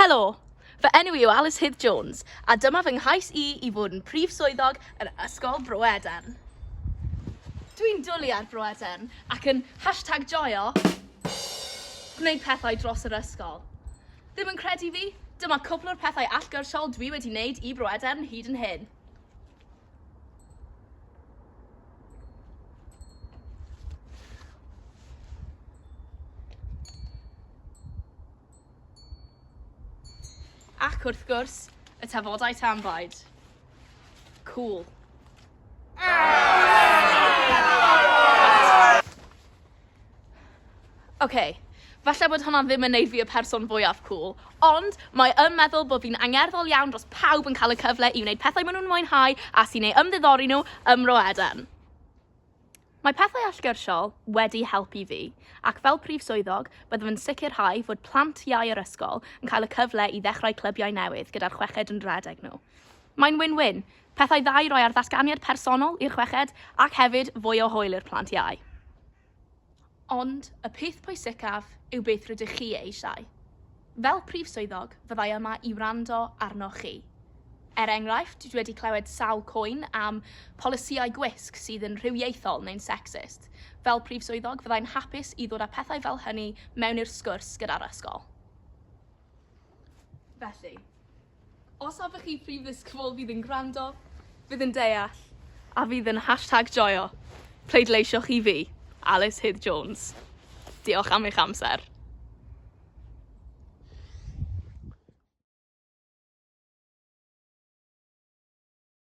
Helo! Fy enw i yw Alice Hydd Jones, a dyma fy nghais i i fod yn prif swyddog yn Ysgol Bro Edern. Dwi'n dwlu ar Bro Edern ac yn hashtag joio gwneud pethau dros yr ysgol. Ddim yn credu fi? Dyma cwpl o'r pethau allgyrsiol dwi wedi wneud i Bro Edern hyd yn hyn. Ac wrth gwrs, y tafodau tanbaid. Cool. Ah! Ok, falle bod hwnna ddim yn neud fi y person fwyaf cŵl, ond mae yn meddwl bod fi'n angerddol iawn dros pawb yn cael y cyfle i wneud pethau maen nhw'n mwynhau a sy'n ei ymddiddori nhw ym Mro Eden. Mae pethau allgyrsiol wedi helpu fi, ac fel prif swyddog, byddaf yn sicrhau fod plant iau yr ysgol yn cael y cyfle i ddechrau clybiau newydd gyda'r chweched yn rhedeg nhw. Mae'n win-win, Pethau dda i roi ar ddatganiad personol i'r chweched ac hefyd fwy o hwyl i'r plant iau. Ond y peth pwysicaf yw beth rydych chi eisiau. Fel Prif Swyddog, fyddai yma i wrando arnoch chi. Er enghraifft, dwi wedi clywed sawl cwyn am polisïau gwisg sydd yn rhywiaethol neu'n secsist. Fel Prif Swyddog, fyddai'n hapus i ddod â pethau fel hynny mewn i'r sgwrs gyda'r ysgol. Felly, Os oeddech chi Prif Ddisgybl fydd yn gwrando, fydd yn deall a fydd yn hashtag joio, pleidleisiwch i fi, Alys Hudd Jones. Diolch am eich amser.